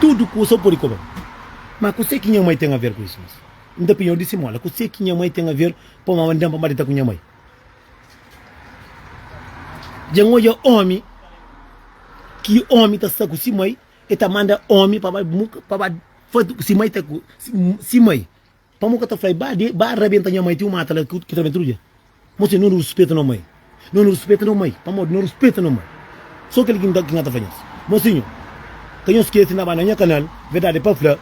Tudu kusa pode koba-m. Má kuse ki nha mai ten aver ku isu? N ta penha, N di simola, kuse ki nha mai ten aver pa mama da-m pa mba dita ku nha mai? Dja N odja ómi ki ómi ta sta ku si mai, el ta manda ómi pa ba, pa ba faze si mai ta ku si mai. Pamo ka ta fla-i, Ba de, ba rabenta nha mai, ten un mata la ki ta rabenta tudu dia. Mo sen no no ruspeta no mai. No no ruspeta no mai, pamodi no ruspeta no mai. So kel ki N ka ta fla nhos. Mo sinhor, ka nhos skese na ba na nha kanal, verdadi pa fla,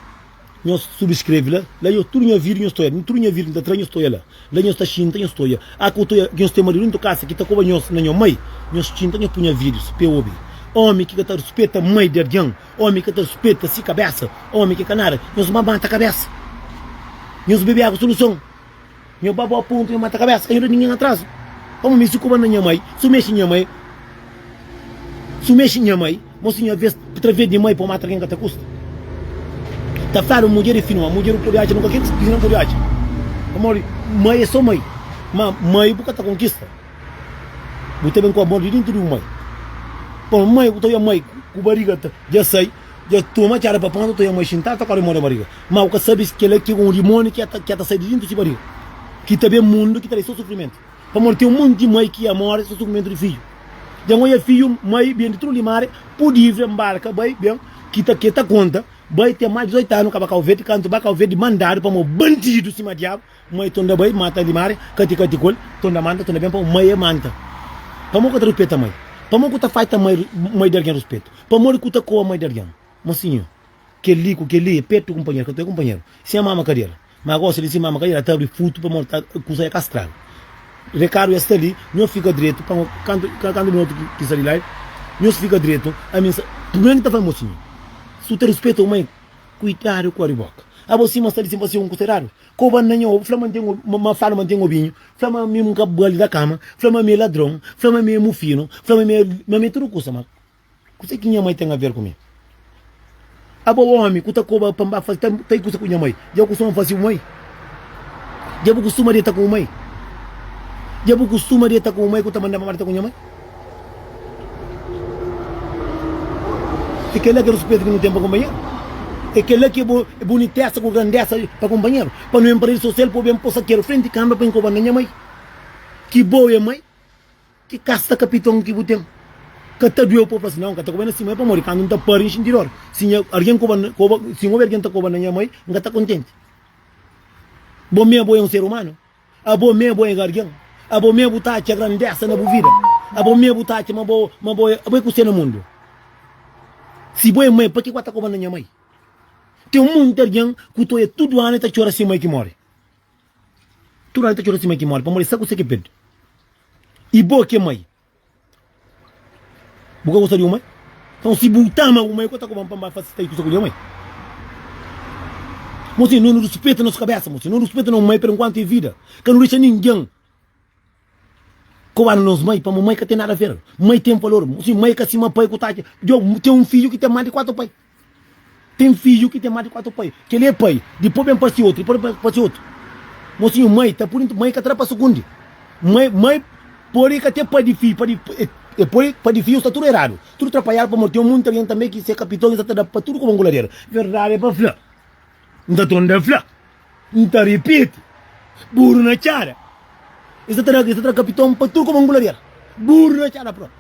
nhos subskreve la, la nhos tudu nha vídiu nhos ta oia, tudu nha vídiu ki N ta tra nhos ta oia la, la nhos ta xinta nhos ta oia. A ku ta oia ki nhos ten maridu dentu kasa ki ta koba nhos na nho mai, nhos xinta nhos pui nha vídius pa e obi. Omi ki ka ta ruspeta mai di algen, Omi ka ta speta si kabesa. Omi ki ka nada, nhos ba mata kabesa. Nhos bebe agu soluson. Nho ba bo pontu, nho mata kabesa. Ka nho da ningen atrazu. Omi mi si ku ba na nha mai, su mexi nha mai, su mexi nha mai, mo si nha ves tra ves di mai po mata algen ka ta kusta. Ta fla-nu mudjer e finu, ma mudjer bu pode atxa nunka kel ki bu pidi na pode atxa. Pamodi mai e so mai, ma mai bu ka ta konkista. Bu ta ben ku amor di dintu di bu mai. Pon mai ku ta oia mai ku bariga ta ja sai, ja toma txada pa ponta ta oia mai xintal ta kore moda bariga. Ma bu ka sabi si kela ki un dimoni ki ta ta sai di dintu si bariga ki ta ben mundu ki ta dai so sufrimentu. Pamodi ten monti di mai ki ya more so sufrimentu di fiju. Ja n oia fiju mai ben di tudu limare, pu livre, mbarka, bai, ben ki ta ke ta konta bai ten mas di 18 anu ka ba Kauverdi kantu ba Kauverdi mandadu pamo bandidu sima diabu Mai ton da bai mata limari kati kati kol ton da manta ton da ben pau mai e manta pamo ka ta ruspeta mai pamo ku ta faita mai mai da algen ruspetu pamodi ku ta koa mai da algen ma sinhor kel li ku kel li e petu kunpanheru ka ta e kunpanheru sin a mama kadela ma gosi li sin mama kadela ta abri futu pamodi ta kusa e ka straga rekadu e sta li nhos fika dretu pa no kantu kantu no otu ki sta li lai nhos fika dretu ami sa purmé mi ta fla mo sinhor su ta ruspetau mai kuidadu ku abri boka abo sima sta li sin pa si un ku seradu K'o ba na nha obi, fla ma N ten obi, ma ma fla ma N ten obinhu, fla ma mi N ka ba li da kama, fla ma mi é ladron, fla ma mi é mufinu, fla ma mi é, ma mi é tudu kusa, ma kuzê ki nha mai ten aver ku mi? Aba omi ku ta koba pa N ba faze ta ta i kusa ku nha mai, dja bu kustuma fasibu mai? Dja bu kustuma deta ku bu mai? Dja bu kustuma deta ku bu mai ku ta manda-m ba deta ku nha mai? É kel-la ki é ruspetu ki nu ten pa kunpanheru. É kel-la ki é bunitesa ku grandesa pa kunpanheru. Pa nu entra so sel, pô-b é npo sakeru frenti kanbra pa inkoba-m na nha mai. Ki bo é mai, ki kasta kapiton ki bu ten. Ka ta due-u pa bu fla sin, Nau, N ka ta koba-l na sima. É pamodi kandu N ta pâria, N xinti dór. Si nha algen koba, si N obi algen ta koba na nha mai, N ka ta kontenti. Bo mê bo é un ser umanu? Abo mê bo ega argen? Abo mê bu ta atxa grandesa na bu vida? Abo mê bu ta atxa ma bo ma bo ê abo ê kusê na mundu? Si bo ê mai, pa ke ku a ta koba na nha mai? Ten monti argen ku to ê tudu anu ê ta txora si mai ki mori. Tudu anu ê ta txora si mai ki mori pamodi ê sa kusê ke perde. I bo ke mai? Bu ka gosta di uma? Nton si bu ta ama uma, é ku el ta koba-m pa N ba fase stay ku Sakulia, ma é. Nos ten nonu rispita nos kabesa, nos ten nonu rispita nos mai, per enkuantu é vida. Ka nu dexa ningen koba-nu nos mai, pamodi mai ka ten nada a ver. Mai ten valor. Sim, mai ka sima pai ku tati. Djobe, ten un fidju ki ten más di kuatu pai. Ten fidju ki ten más di kuatu pai. Kel-li é pai, dipôs ben parse otu, dipôs ben parse otu. Mô sinhor, mai ta pode, mai ka ta da pa sugundi. Mai, mai pode ka ten pai di fidju, padi e poi pai di fidju sta tudu eradu, tudu trapalhadu pamodi ten monti algen tanbe ki se kapiton, es sa ta da pa tudu kuma un kuladeru. Verdadi é pa fla, N ta torna ta fla, N ta ripiti, Buru na txada, es sa ta da, es sa ta da kapiton pa tudu kuma un kuladeru. Buru na txada propi.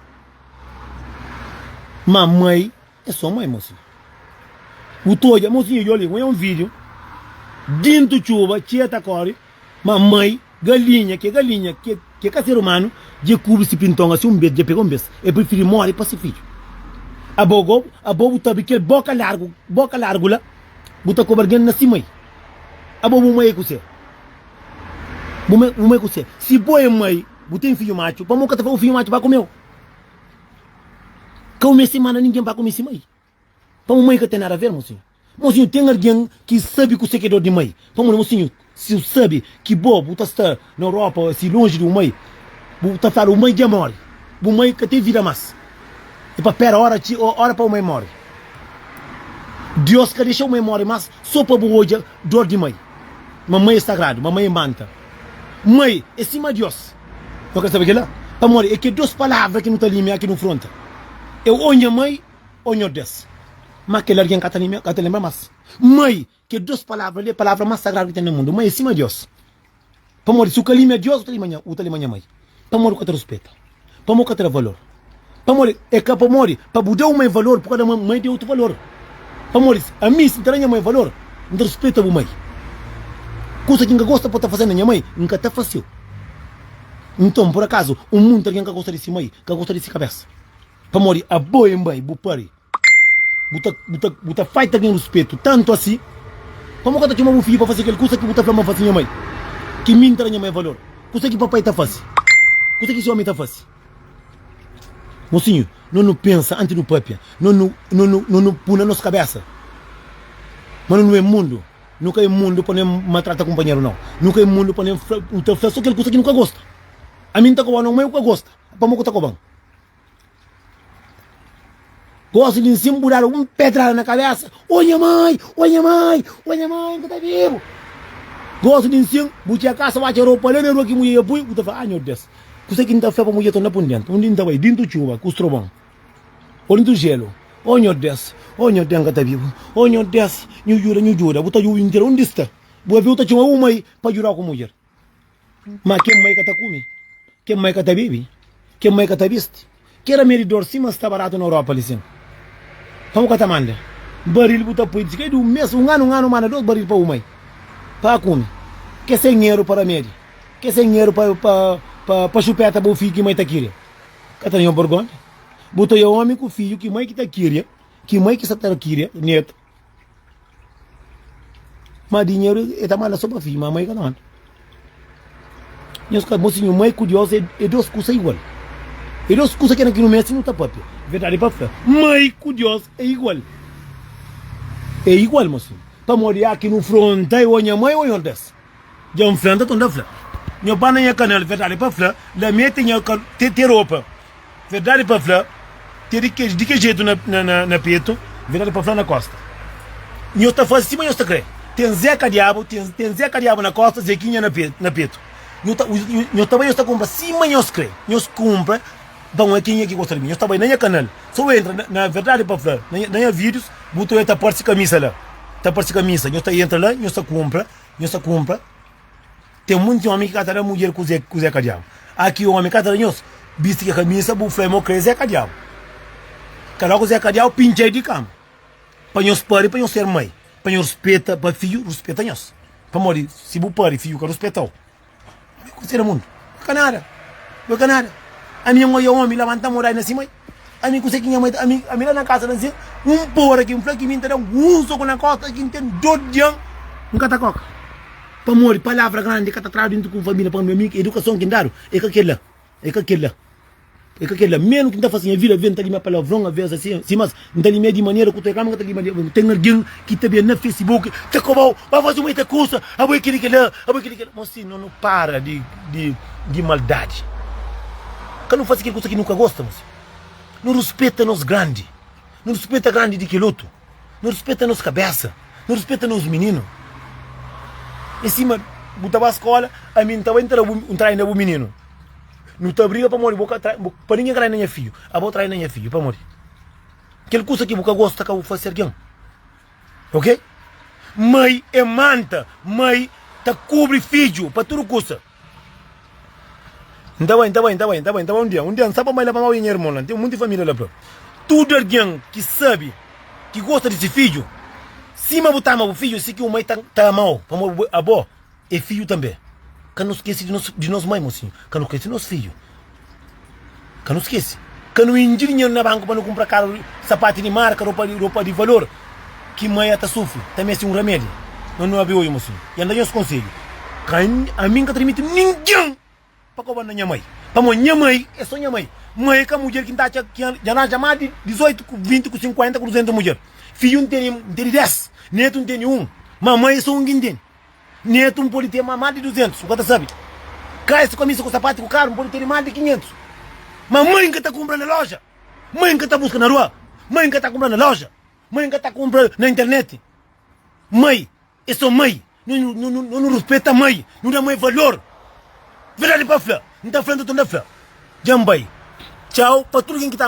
Má mai. É so mãe mosinha bu ta odja mosinha djo li un video dintu txuba txia ta kori ma mãe galinha ke galinha ke ka ser humano dje kubri si pinton asi un bes dje pega un bes e prifiri mori pa si fidju abogo abo bu tabi kel boka largu boka largu la bu ta koba algen na si mãe abo bu mãe é kuse bu mãe kuse si bo é mãe bu ten fidju matxu pamo ka ta fla bu fidju matxu ba kumeu. Ka u meste manda ningen pa kumisi mai. Pamodi mai ka ten nada aver, mosinhu. Mosinhu, ten algen ki sabe kuse ki é dor di mai? Pamodi, mosinhu, si bu sabe ki bo bu ta sta na Europa si lonji di bu mai, bu ta fla bu mai dja mori. Bu mai ka ten vida mas. E pa pera ora txi ora pa bu mai mori. Dios ka dexa bu mai mori mas so pa bu odja dor di mai. Ma mai é sagradu, ma mai é manta. Mai e sima Dios. No kre sabe kila. Pamodi e ke dos palavra ki no ta limia ki no fronta. E o nha mai o nho des. Ma kel argen ka ta limia, ka ta lembra mas. Mai ke dos palavra li e palavra mas sagradu ki ten na mundu. Mai e sima Dios. Pamodi si u ka limia Dios u ta limia nha, u ta limia nha mai. Pamodi ka ta ruspeta? Pamodi ka ta da valor? Pamodi e ka pamodi pa bu da un mai valor bu ka da mai di otu valor? Pamodi ami si n ta da nha mai valor n ta ruspeta bu mai. Kusa ki n ka gosta pa ta faze na nha mai n ka ta faseu. Nton pur akazu un monti algen ka gosta di si mai ka gosta di si kabesa? Pamodi abo e bai bu pari. Bu ta faita gen ruspetu tantu asi pa ma ku ka ta txoma bu fidju pa fasi kel kusa ki bu ta fla ma N fasi nha mai? Ki mi N tra nha mai valor? Kusa ki papai ta fasi? Kusa ki si omi ta fasi? Mosinhu, no nu pensa antis nu papia, no nu puna nos kabesa ma no nu e mundu. Nu ka e mundu pa no e maltrata kunpanheru nau. Nu ka e mundu pa no ta fla so kel kusa ki nu ka gosta. Ami N ta koba no mai, bu ka gosta, pamodi ku ta koban? Gosi di nsin bu dadu un pedrada na kabesa O nha mai, o nha mai, o nha mai n ka ta bibu Gosi di nsin bu txia kasa watxa ropa la na rua ki mudjer dja pui bu ta fla Ah nho Deus, kusa ki n ta fla pa mudjer ta na pun dentu undi n ta bai dintu txuba ku strobon o dintu jelu O nho Deus, o nho Deus n ka ta bibu O nho Deus nhu djuda, nhu djuda bu ta djubi nhu djuda undi sta bu ka viu ta txoma bu mai pa djuda ku mudjer. Ma kel mai ka ta kume, kel mai ka ta bebe, kel mai ka ta bisti, ki éra mé di dor sima sta baratu na Europa li sin. Pa bu ka ta manda baril bu ta poi di kai di un mes, un anu, un anu manda dos baril pa bu mai pa kume, ke se nheru pa ramedi, ke se nheru pa pa pa xupeta bu fidju ki mai ta kiria. Ka ta nho borgonha, bu ta oa omi ku fidju ki mai ki ta kiria, ki mai ki sa ta kiria, netu. Ma dinheru e ta manda so pa fidju, ma ama e ka ta manda. Nhos ka gosi nhu mai ku Deus e dos kusa igual. E dos kusa kena ki nu meste nu ta papia. Verdadi pa fla, mai ku Deus e igual. E igual, ma sumi, pamodi a ki nu fronta e o nha mai o nha ordes. Dja N fla-m, ta tonta fla Nho banda nha kanal Verdadi pa fla, lameta nha ka te ropa Verdadi pa fla, te di ke di ke jetu na petu Verdadi pa fla na kosta Nho ta faze sima nho ta kre Ten zeka diabu, ten zeka diabu na kosta Zekinha na petu Nho ta nho ta bai nho ta kunpra sima nho kre Nho kunpra Nton, é kenha ki gosta di mi? Nhos ta bai na nha kanal. Si bu entra, na verdadi pa fla, na nha vídius, bu ta oja ta parse kamisa la. Ta parse kamisa. Nhos ta entra la, nhos ta kunpra, nhos ta kunpra. Ten monti ómi ki ka ta da mudjer kuzê, kuzê ka diabu. A ki ómi ka ta da nhos bisti kel kamisa, bu fla el ma bu krê Zé ka diabu. Kaloka Zé ka diabu pintxa el di kama. Pa nhos pari, pa nhos ser mai, pa nhos ruspeta, pa fidju ruspeta nhos. Pamodi si bu pari, fidju ka ruspeta-u. Ami ku sera mundu, bu ka nada, bu ka nada. Ami un oia omi labanta moda na sima, ami ku se ki nha mai ta ami, ami la na kasa na sin, un pora ki n fla ki mi n ta dan un soku na kosta ki n ten dor di an, n ka ta koka. Pamodi palavra grandi ka ta tradu intu ku un família, pamodi ami edukason ki n dadu e ka kila, e ka kila. E ka kela menu ki N ta fase nha vida, ve N ta limia palavron aves asi, si mas N ta limia di manera ku tecla, ma N ka ta limia di. Ten argen ki ta ben na fesibuk ta kobau, Ba fase un eta kusa, abo e keli kela, abo e keli kela. Nós si no no para di di di maldadi, ka no fase kel kusa ki no ka gosta, nós no ruspeta nos grandi, no ruspeta grandi di kel otu. Nu rispeta nos kabésa, nu rispeta nos mininu. É sima bu ta ba skola, ami N ta bai N ta da bu un trai na bu mininu. Nu ta briga pamodi bo ka trai, pa ningen ka trai na nha fidju, aba bo trai na nha fidju. Pamodi? Kel kusa ki bu ka gosta ka bu fase algen. Ok? Mai é manta, mai ta kubri fidju pa tudu kusa. N ta bai, N ta bai, N ta bai, N ta bai, N ta bai un dia, un dia N sa pa N bai la pa Maui, nha irmon la. N ten monti família la. Bra. Tudu algen ki sabe, ki gosta di se fidju, sima bu ta ama bu fidju, si ki un mai ta ta ama-u, pamodi bu é abo, é fidju tanbê. Ka nu skese di nos di nos mai, mosinhu. Ka nu skese di nos fidju. Ka nu skese, ka nu inji dinheru na banku pa nu kunpra karu, sapati di marka, ropa di ropa di valor. Ki Maia ta sufri ta meste un ramedi. Nau nu abe oju, mosinhu, i N da nhos konsedju. Ka N, ami N ka ta dimitiu ningen pa koba na nha mai. Pamodi nha mai e so nha mai. Maia ka mudjer ki N ta atxa ki dja ranja mas di dizoitu, ku vinti, ku sinkuenta, ku duzentu mudjer. Fidju N tene, N tene des. Netu N tene un. Ma Maia e so un ki N tene. Netu N pode ten ma más di duzentus, N ka ta sabe Ka es kamisa ku sapatu ku karu N pode tene más di kinhentus Má mai N ka ta kunpra na loja Mai N ka ta buska na rua Mai N ka ta kunpra na loja Mai N ka ta kunpra na internet Mai é sô mai Nu nu nu nu ruspeta mai Nu da mai valor Verdadi pa fla N ta fla nta tun da fla Dja N bai Txau pa tudu ken ki ta.